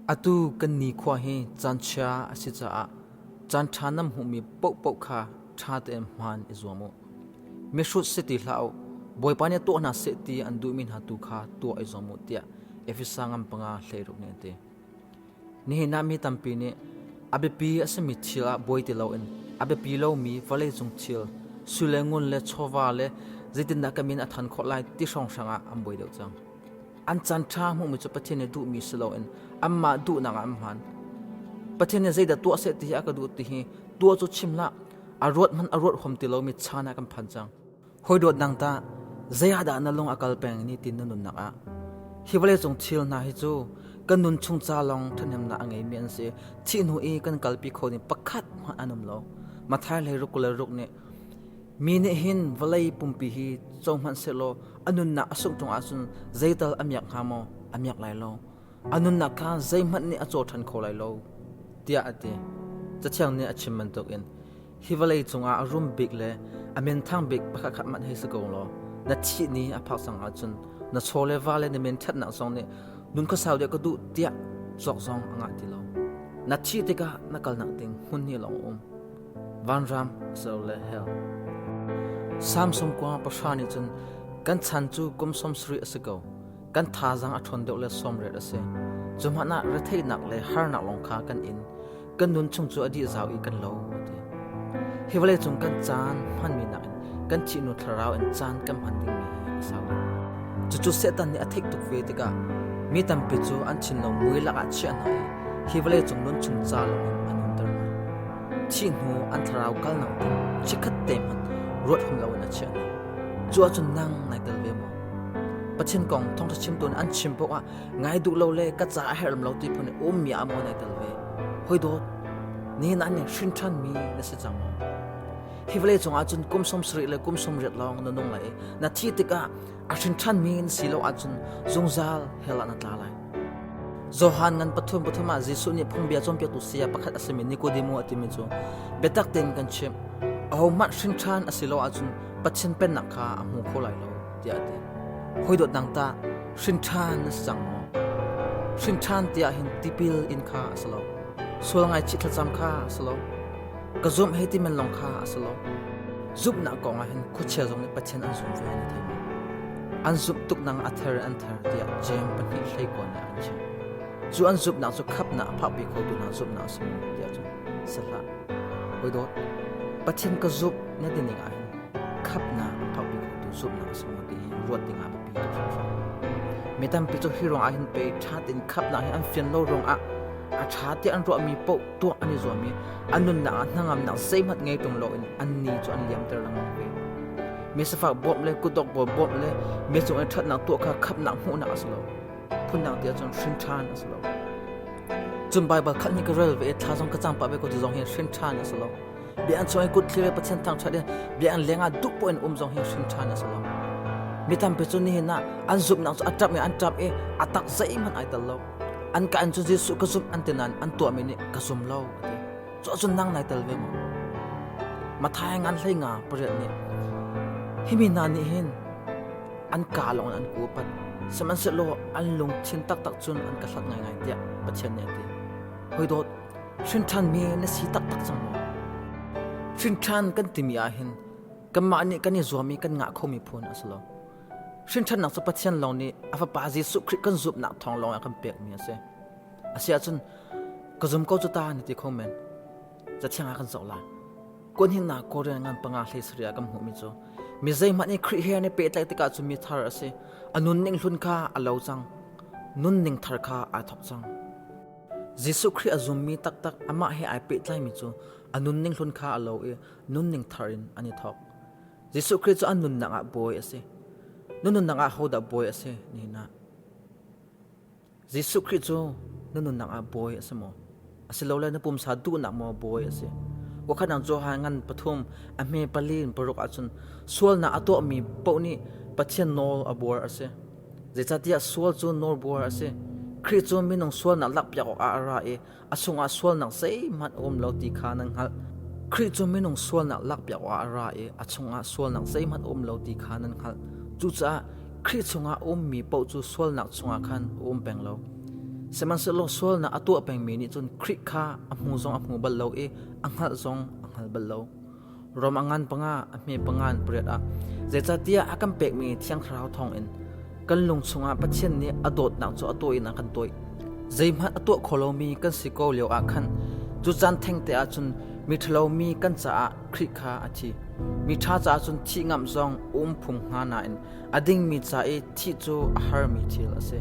Atu kan nikhua hi caanchia a si caah caanṭha nan hmuhmi paohpaoh kha ṭha tein hmaan i zuam u. Mihrut si ti hlah u, Bawipa nih tuah hna seh ti an duhmi hna tu kha tuah i zuam u, tiah Efesa ngan panga hleiruk nih a ti. Nihin ah mi tampi nih a biapi a simi thil ah buai ti loin a biapi lomi vawleicung thil, sui le ngun le chawva le zeitindah ka min a ṭhan khawh lai ti hrawnghrang ah an buai deuh cang. An caanṭha hmuhmi cu Pathian nih duhmi si loin anmah duhnak ah an hman. Pathian nih zeidah tuah seh ti hi a ka duh ti hi tuah cu chim hlah, a ruat hmanh a ruat huam ti lomi caan ah kan phan cang. Hawi dawt dang tah zei ah dah na lung a kal peng ni tin na nunnak ah? Hi vawleicung thil hna hi cu kan nun chung ca lawng ṭhahnemnak a ngeimi an si. Thih hnu i kan kalpi kho ding pakhat hmanh an um lo. Matthai le ruk kul le ruk nih mi nih hin vawlei pumpi hi co hmanh sehlaw a nunnak a sungh cungah cun zeital a miak hnga maw? A miak lai lo. A nunnak kha zeihmanh nih a caw ṭhan kho lai lo, tiah a ti. Cathiang nih a chim bantukin hi vawlei cungah a rum bik le a menthang bik pakhatkhat hmanh hei si ko law na thih ni a phak cang ahcun na chaw le va le na men ṭhatnak zong nih nun khuasau deuh ka duh tiah cawk zong a ngah ti lo na thih tikah na kalnak ding hmun hi lawng um vanram so le hell samsung kuang pahra nih cun kan chan cu kum som sarih a si ko kan thazaang a ṭhawn deuh le sawmret a si. Cuhmanh ah retheihnak le harnak lawng kha kan in, kan nun chung cu a dih zau i kan lo, a ti. Hi vawleicung kan caan hmanmi nakin kan thihnu thlarau in caan kan hman dingmi hi a sau. Cucu Satan nih a theih tuk ve tikah mi tampi cu an thinlo mui lakah chiah hna i hi vawleicung nun chung ca lawngin an umter hna. Thih hnu an thlarau kalnak ding chikkhat te hmanh ruat hung loin a chiah hna. Cu ahcun nang nai tel ve maw? Pathin kong thawngṭha chimtu an chim paoh ah ngai duh lo le ka caah a herham lo ti phun i ummi ah maw nai tel ve? Hoi dawt, nihin ah nih hrin ṭhanmi na si cang maw? Hi vawlei cungah cun kum sawm sarih le kum sawm riat lawng na nung lai i na thih tikah a hrin ṭhanmi na si lo ahcun zungzal hell ah na tla lai. Johan ngan pathum pathum ah Jesuh nih phungbia cawnpiaktu saya pakhat a simi Nikodemo a timi cu biatak tein kan chimh ahohmanh hrin ṭhan a si lo ahcun Pathian Pennak kha a hmu kho lai lo tiah a ti. Hawi dawtnak tah hrinṭha na si cang maw? Hrinṭhan tiah hin tipil in kha a si lo. Sual ngaichih thlacam kha a si lo. Ka zumh hei ti men lawng kha a si lo. Zumhnak kong ah hin khuachia zong nih Pathian an zum ve an i thei maw? An zumh tuk nang a ther an ther tiah Jeim pahnih hleikawn nih an chim. Cu an zumhnak cu khapnak a phakpi khotu hna zumhnak a si maw tiah cun si hlah. Hawidawt, Pathin ka zumh na ti ning ahhin khapnak thawkpi khawhtu zumhnak a si maw ti ruat dingah biapi tuk hrimhrim. Mi tampi cu hi ruangah hin pei ṭha tein khapnak hi an fian lo ruangah a ṭha tiah an ruahmi paoh tuak an i zuam i a nunnak ah hnangamnak zeihmanh ngei tung loin annih cu an liamter lengmang ve. Mi sifak bawmh le kutdok bawi bawmh le mi cung i ṭhatnak tuah kha khapnak hmuhnak a si lo. phunnak ti ahcun hrin ṭhan a si lo cun baibal khat hnih ka rel ve thla zong ka cang pah ve ko ti zong hi hrin ṭhan a si lo bia an chuah i kut thli ve pathian thangṭhat i bia an leng ah duh poin um zong hi hrin ṭhan a si lo mi tampi cu nihin ah an zumhnak cu a ṭap i an ṭap i a tak zeihmanh ai tel lo an ka an cu jesuh ka zumh an ti nain an tuahmi nih ka zum lo a ti Cawh cun nang nai tel ve maw? Mathai ngan hlei nga pariat nih himi hna nih hin an ka lawng in an ku pat sihmanhsehlaw an lungthin taktak cun an ka hlat ngaingai tiah Pathian nih a ti. Hoi hrinṭhan mi na si taktak cang maw? Hrinṭhan kan timi ah hin kanmah nih kan i zuam i kan ngah khomi phun a si lo. Hrinṭhannak cu Pathian lawng nih a Fapa Jesuh Khrih kan zumhnak thawng lawng a kan pekmi a si. Asiahcun ka zum ko cu ta na ti kho men. Cathiang ah kan zoh lai. Kuanhingnak Korean ngan panga hlei saria kan hmuhmi cu mi zeihmanh nih Khrih he an i pehtlaih tikah cu mi thar a si. A nunning hlun kha a lo cang. Nunning thar kha aa thawk cang. Jesuh Khrih a zummi taktak amah he ai pehtlaimi cu a nunning hlun kha a lo i nunning thar in an i thawk. Jesuh Khrih cu an nunnak ah bawi a si. Na nunnak ah hodah bawi a si? Ni na. Jesuh Khrih cu na nunnak ah bawi a si maw? A si lole na pumsa duhnak maw bawi a si? Wakhatnak Johan ngan pathum a hme pali in paruk ahcun sualnak a tuahmi paoh nih Pathian nawl a buar a si. Zeicahtiah sual cu nawlbuar a si. Khrih cu minung sualnak lakpiak awkah a ra i a chungah sualnak zeihmanh a um lo ti kha nan hngalh. Khrih cu minung sualnak lak piak awkah a ra i a chungah sualnak zeihmanh a um lo ti kha nan hngalh. Cucaah Khrih chungah a ummi paoh cu sualnak chungah khan a um peng lo. Sihmanhsehlaw sualnak a tuah pengmi nih cun Khrih kha a hmu zong a hmu bal lo i a hngalh zong a hngal bal lo. Rom a ngan panga a hme pangan pariat ah zeicahtiah a kan pekmi thiang thlarau thawngin kan lung chungah Pathian nih a dawtnak cu a taw in a kan tawih. Zeihmanh a tuah kho lomi kan si ko lio ah khan cu caan thengte ah cun miṭhalomi kan caah Khrih kha a thi. Miṭha caah cun thih ngamh zong a um phung hnga nain A dingmi ca i thih cu a harmi thil a si.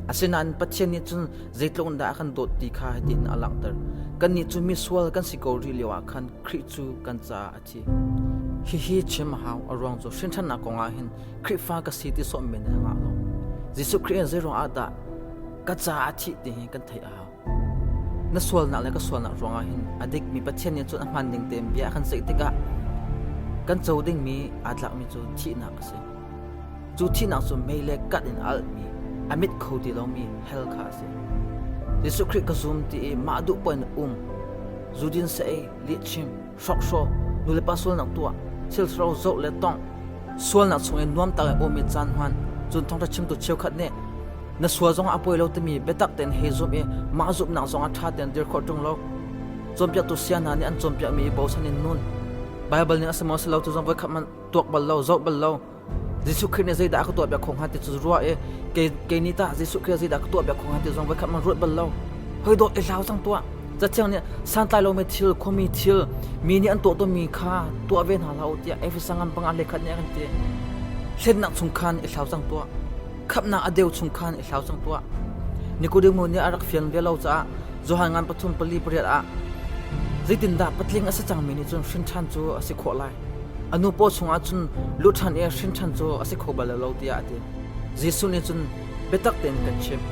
Asinain Pathian nih cun zeitluk in dah a kan dawt ti kha hitin a langhter. Kannih cu misual kan si ko rih lioah khan Khrih cu kan caah a thi. Hihi chim a hau, a ruang cu hrinthannak kongah hin Khrihfa ka si ti sawm men hi a ngah lo. Jesuh Khrih in zei ruang ah dah ka caah a thih ti hi kan theih a hau. Na sualnak le ka sualnak ruangah hin a dikmi Pathian nih cun a hmaan ding tein bia a kan ceih tikah kan co dingmi aa tlakmi cu thihnak a si. Cu thihnak cu mei le kat in a alhmi, a mit kho ti lomi hell kha a si. Jesuh Khrih ka zum ti i mah duh poin um. Zudin seh ei, lihchim, hrawkhraw nulepa sualnak tuah thiltharo zoh le tongh sualnak chungin nuamta le awm i caan hman cun thawngtha chimtu cheukhat nih na sual zongah a poi lo timi biatak tein he zum i mah zumhnak zongah ṭha tein dir khawh ṭung lo cawnpiaktu sia hna nih an cawnpiakmi i bosan in nun baibal nih a si maw si lo tu zong voikhat hmanh tuak bal lo zoh bal lo Jesuh Khrih nih zeidah a ka tuahpiak kho hnga ti cu ruah i kei nih tah Jesuh Khrih zeidah ka tuahpiak kho hnga ti zong voikhat man ruat bal lo. Hoi dawt i hlau cang tuah. Cathiang nih santlai lomi thil, khuami thil, mi nih an tuah tawnmi kha tuah ve hna hlah u tiah Efeso ngan panga le khat nih a kan ti. Hlennak chung khan i hlau cang tuah. Khamhnak a deu chung khan i hlau cang tuah. Nikodemu nih a rak fian ve lo caah Johan ngan pathum pali pariat ah zeitindah patling a si cangmi nih cun hrin ṭhan cu a si khawh lai. A nu paw chungah cun lu ṭhan i hrinṭhan cu a si kho bal lo tiah a ti. Jesuh nih cun, Biatak tein kan chimh,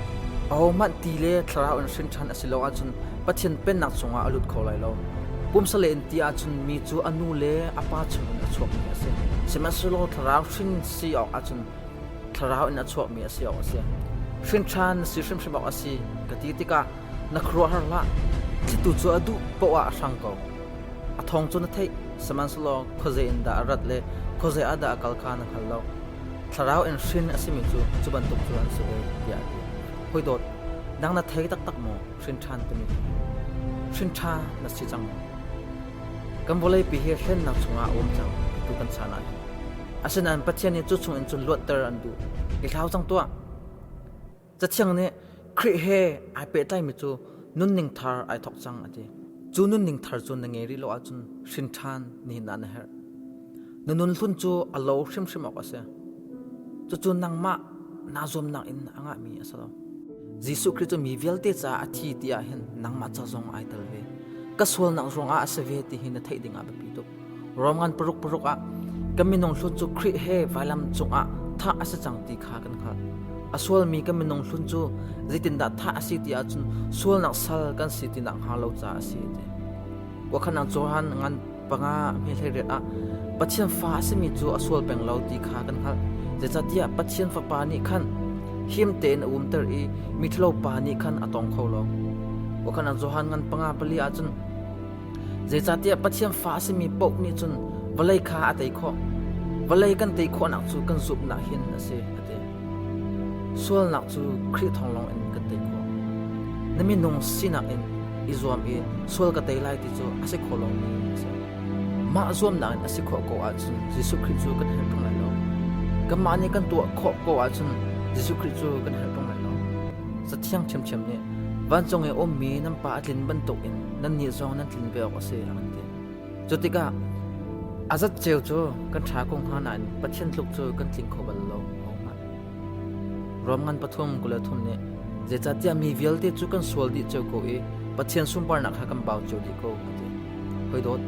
ahohmanh ti le thlarau in hrinṭhan a si lo ahcun Pathian pennak cungah a lut kho lai lo. Pumsale in ti ahcun mi cu a nu le a pa chungin a chuakmi a si. Sihmanhsehlaw thlarau hrin si awk ahcun thlarau in a chuakmi a si awk a si. Hrinṭhan na si hrimhrim awk a si ka ti tikah Na khuaruahhar hlah, thlitu cu a duh paoh ah a hrang ko. A thawng cu na theih, sihmanhsehlaw khuazei in dah a rat le khuazei ah dah a kal kha na hngal lo. Thlarau in hrin a simi cu cu bantuk cu an si ve, tiah a ti. Hoi dawt, nang na thei taktak maw, hrin ṭhan timi? Hrin ṭha na si cang maw? Kan vawleipi hi hlennak chungah a um cang, tu kan chan ah hi. Asinain Pathian nih cu chungin cun luatter an duh. I hlau cang tuah! Cathiang nih Khrih he ai pehtlaimi cu nunning thar ai thawk cang a ti. Cu nunning thar cu na ngei rih lo ahcun hrin ṭhan nihin ah na herh. Na nunhlun cu a lo hrimhrim awk a si. Cucu nangmah naa zuamnak in a ngahmi a si lo. Jesuh Khrih cu mi vialte caah a thi ti ahhin nangmah ca zong ai tel ve. Ka sualnak ruangah a si ve ti hi na theih dingah biapi tuk. Ruamngan paruk paruk ah ka minung hlun cu Khrih he vailam cungah thah a si cang ti kha kan hngalh. A sualmi kan minung hlun cu zeitindah thah a si ti ahcun sualnak sal kan si ti nak hnga lo ca a si a ti. Wakhanang Johan ngan panga hmelheriat ah Pathian fa a simi cu a sual peng lo ti kha kan hngalh. Zeicahtiah Pathian fapa nih khan him tein a umter i miṭhalo pa nih khan a tong kho lo. Wakhanang Johan ngan panga pali ahcun Zeicahtiah Pathian fa a simi paoh nih cun vawlei kha a tei khawh. Vawlei kan tei khawhnak cu kan zumhnak hin a si, a ti. Sualnak cu Khrih thawng lawngin kan tei khawh. Na minung sinak in i zuam i sual ka tei lai ti cu a si kho lomi a si. Mah zuamnak in a si khawh ko ahcun Jesuh Khrih cu kan herh ṭung lai lo. Kanmah nih kan tuah khawh ko ahcun Jesuh Khrih cu kan herh ṭung lai lo. Cathiang ṭhiamṭhiam nih vancung i a ummi nan Pa a tlin bantukin nannih zong nan tlin ve awk a si a kan ti. Cu tikah a zat ceu cu kan ṭha ko hnga nain Pathian tluk cu kan tling kho bal lo hnga. Rom ngan pathum kula thum nih zeicahtiah mi vialte cu kan sual dih cio ko i Pathian sunparnak kha kan bau cio dih ko ka ti. Hoi dawt.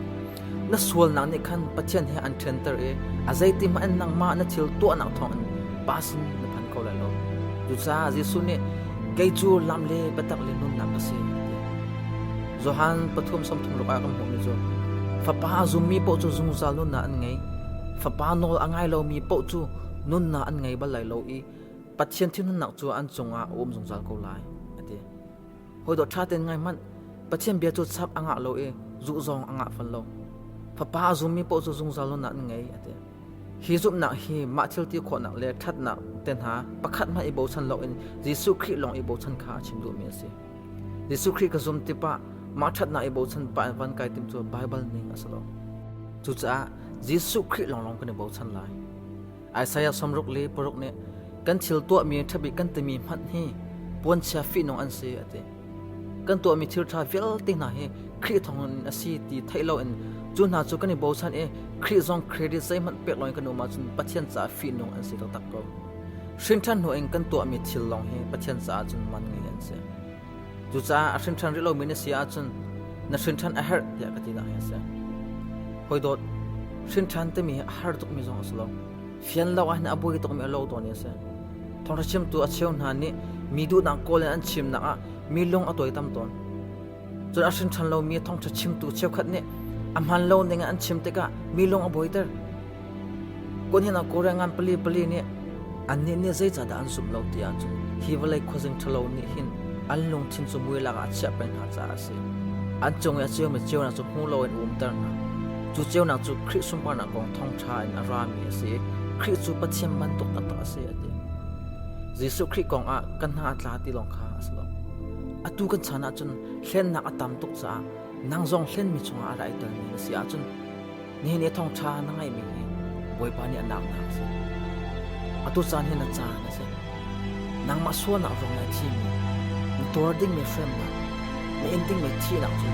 Na sualnak nih khan Pathian he an ṭhianter i a zeitihmanh nangmah na thil tuahnak thawngin pa sin na phan ko lai lo. Cucaah Jesuh nih, Kei cu lam le biatak le nunnak ka si, a ti. Johan pathum sawmthum ah kan hmuhmi cu Fapa a zummi paoh cu zungzal nunnak an ngei. Fapa nawl a ngai lomi paoh cu nunnak an ngei bal lai lo i Pathian thil nunnak cu an cungah a um zungzal ko lai, a ti. Hawidawt ṭha tein ngai hmanh, Pathian bia cu chap a ngah lo i zuh zong a ngah fal lo. Fapa a zummi paoh cu zungzal lonak an ngei, a ti. Hi zumhnak hi mah thilti khawhnak le ṭhatnak te hna pakhat hmanh i bochan loin Jesuh Khrih lawng i bochan kha a chim duhmi a si. Jesuh Khrih ka zum tipah mah ṭhatnak i bochan pa in van kai tim cu Baibal ning a si lo. Cucaah Jesuh Khrih lawnglawng kan i bochan lai. Isaiah sawmruk le paruk nih kan thil tuahmi ṭhabik kan timi hmanh hi puanchia fihnung an si a ti. Kan tuahmi thil ṭha vialte hna hi Khrih thawngin a si ti theih loin cu hna cu kan i bochan i Khrih zong credit zeihmanh pek loin kan um ahcun Pathian caah fihnung an si taktak ko. Hrinṭhan hnuin kan tuahmi thil lawng hi Pathian caah cun man ngei an si. Cucaah a hrinṭhan rih lomi na si ahcun na hrinṭhan a herh tiah ka tinak hi a si. Hoi dawt, hrinṭhan timi hi a har tukmi zong a si lo. Fian lo ahhin a buai tukmi a lo tawn i a si. Thawngṭha chimtu a cheu hna nih mi duhnak kawl in an chimnak ah mi lung a tuai tam tawn. Cun a hrinṭhan lomi thawngṭha chimtu cheukhat nih a hmaan lo ning in an chim tikah mi lung a buaiter. Kun hin a kore ngan pali pali nih annih nih zeicahdah an zumh lo ti ahcun hi vawlei khuazing ṭhalo nih hin an lungthin cu mui lakah a chiah peng hna caah a si. An cung i a ciomi ceunak cu hmu loin a umter hna. Cu ceunak cu Khrih sunparnak kong thawngṭha in a rami a si i Khrih cu Pathian bantuk taktak a si a ti. Jesuh Khrih kongah kan hna a tla ti lawng kha a si lo. Atu kan chan ahcun hlennak a tam tuk caah nang zong hlenmi chungah a ra i telmi na si ahcun Nihin i thawngṭha na ngaihmi hi Bawipa nih a naknak a si. Atu caan hi na caan a si. Nangmah sualnak zong in a thimi, na tuar dingmi hremnak, na in dingmi thihnak cu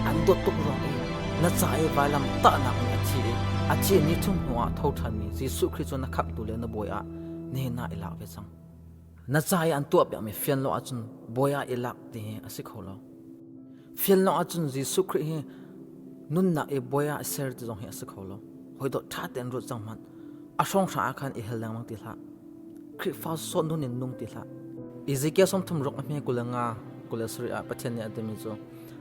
an dawt tuk ruang in na ca i vailam tahnak nih a thi i a thi ni chung hnuah tho ṭhanmi Jesuh Khrih cu na khamhtu le na bawi ah nihin ah i lak ve cang. Na ca i an tuah piakmi fianlo ahcun Bawi ah i lak ti hi a si kho lo. Fianlo ahcun Jesuh Khrih hi nunnak i Bawi ah i ser ti zong hi a si kho lo. Hawidawt ṭha tein ruat cang hmanh. A hrawnghrang ah khan i hel lengmang ti hlah. Khrihfa sawt nun in nung ti hlah. Ezekiel sawm thum ruk a hme kul le nga kul le sarih ah Pathian nih a timi cu,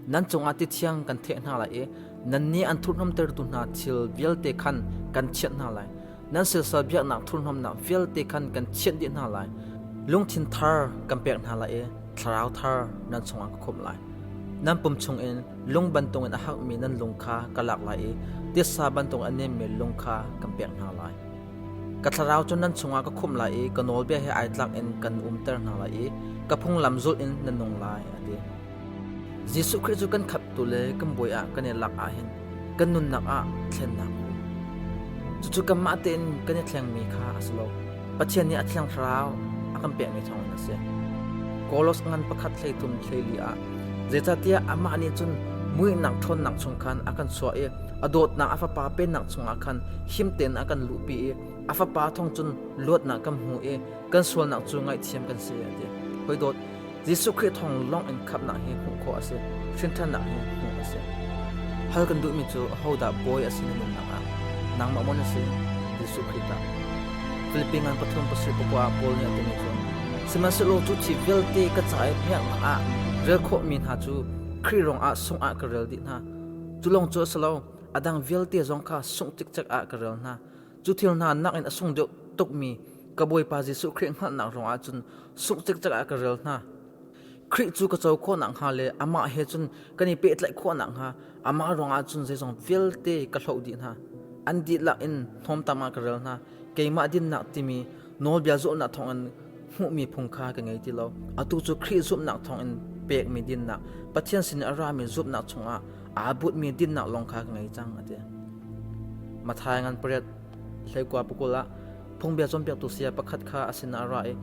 nan cungah tithiang kan theh hna lai i nannih an thurhnawmtertu hna thil vialte khan kan chiah hna lai. Nan silsal biaknak thurhnawmnak vialte khan kan chiah dih hna lai. Lungthin thar kan pek hna lai i thlarau thar nan chungah ka khumh lai. Nan pum chungin lung bantukin a hakmi nan lung kha ka lak lai i tiasa bantukin a nemmi lung kha kan pek hna lai. Ka thlarau cu nan chungah ka khumh lai i ka nawlbia he ai tlak in kan umter hna lai i ka phunglam zulh in nan nung lai, a ti. Jesuh Khrih cu kan khamhtu le kan bawi ah kan i lak ahhin kan nunnak ah thlennak a um. Cucu kanmah tein kan i thlengmi kha a si lo. Pathian nih a thiang thlarau a kan pekmi thawngin a si. Kolos ngan pakhat hleithum hleli ah zeicahtiah amah nih cun muihnak ṭhawnnak chung khan a kan suah i a dawtnak a Fapa Pennak chungah khan him tein a kan luhpi i a Fapa thawng cun luatnak kan hmu i kan sualnak cu ngaihthiam kan si a ti hoi Jesuh Khrih thawng long in khapnak hi hmuh khawh a si hrinthannak hi hmuh a si hal kan duhmi cu ahodah bawi a si na nunnak ah nangmah mon a si Jesuh Khrih ta Philippines pathum pasir pukwa Paul nih a timi cu sihmanhsehlaw cu thi vialte ka ca i miaknak ah rel khawhmi hna cu Khrih rong ah sung ah ka rel dih hna cu long cu a si lo a dang vialte zong kha sungh cikcek ah ka rel hna Cu thil hna nakin a sung deuh tukmi ka Bawipa Jesuh Khrih hngalhnak ruangah cun sungh cikcek ah ka rel hna. Khrih cu ka co khawh nakhnga le amah he cun kan i pehtlaih khawh nakhnga amah ruangah cun zeizong vialte ka hloh dih hna. An dihlak in hnawmtam ah ka rel hna. Keimah dinnak timi nawlbia zulhnak thawngin hmuhmi phung kha ka ngei ti lo. Atu cu Khrih zumhnak thawngin pekmi dinnak, Pathian sinin a rami zumhnak chungah aa butmi dinnak lawng kha ka ngei cang a ti. Mathai ngan pariat hleikua pukul ah phungbia cawnpiaktu saya pakhat kha a sinah a ra i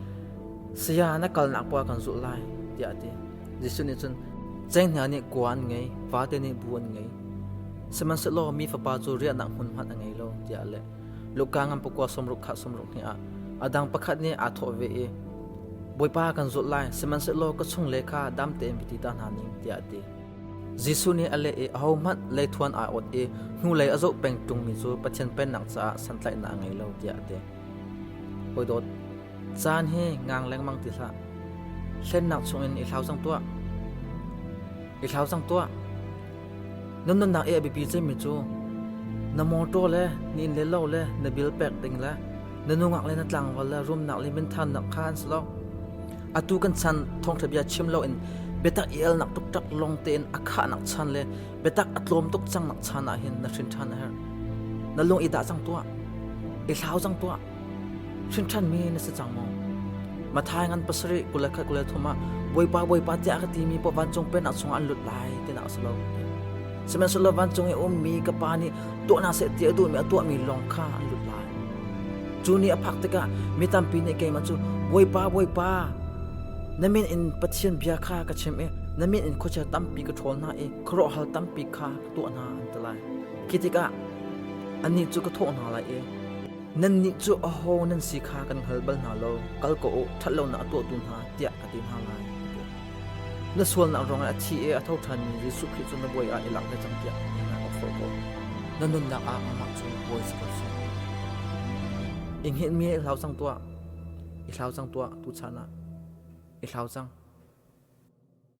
saya na kalnak puah kan zulh lai tiah a ti. Jesuh nih cun cenghngia nih kua an ngei, vate nih bu an ngei. Sihmanhsehlaw mi fapa cu riahnak hmun hmanh a ngei lo tiah a leh. Luka ngan pakua sawmruk kha sawmruk hnih ah a dang pakhat nih aa thawh ve i, Bawipa kan zawt lai, sihmanhsehlaw ka chung le kha dam tein va ti ta hna ning, tiah a ti. Jesuh nih a leh i ahohmanh leithuan aa ot i hnulei a zoh peng ṭungmi cu Pathian Pennak caah santlaihnak a ngei lo, tiah a ti. Hawi dawt, caan hi ngang lengmang ti hlah. Hlennak chungin i hlau cang tuah. I hlau cang tuah. Nan nunnak i a biapi cemmi cu na mawṭaw le na inn le lo le na bil pek ding le na nungak le na tlangval le rumnak le minthannak kha an si lo. Atu kan chan thawngṭha bia chim loin biatak i elnak tukṭak lawng tein a khahnak chan le biatak a tlawm tuk cangnak chan ah hin na hrin ṭhan a herh. Na lung i dah cang tuah. I hlau cang tuah. Hrinṭhanmi na si cang maw? Mathai ngan pasarih kul le khat kul le thum ah Bawipa Bawipa tiah ka timi paoh vancung pennak chungah an lut lai tinak a si lo. Sihmanhsehlaw vancung i a ummi ka Pa nih tuahnak seh ti a duhmi a tuahmi lawng kha an lut lai. Cu ni a phak tikah mi tampi nih keimah cu Bawipa Bawipa na min in Pathian bia kha ka chim i na min in khuachia tampi ka ṭhawl hna i khuaruahhar tampi kha ka tuah hna an ti lai. Khi tikah annih cu ka thawh hna lai i, Nannih cu aho nan si kha kan hngal bal hna lo, kal ko u, ṭhatlonak a tuahtu hna, tiah a ti hna lai, Na sualnak ruangah a thi i a tho ṭhanmi Jesuh Khrih cu na bawi ah i lak ve cang, tiah mi hna ka forh ko. Na nunnak ah amah cu bawi si ko seh. I hngilh mi i hlau cang tuah. I hlau cang tuah tuchan ah. I hlau cang.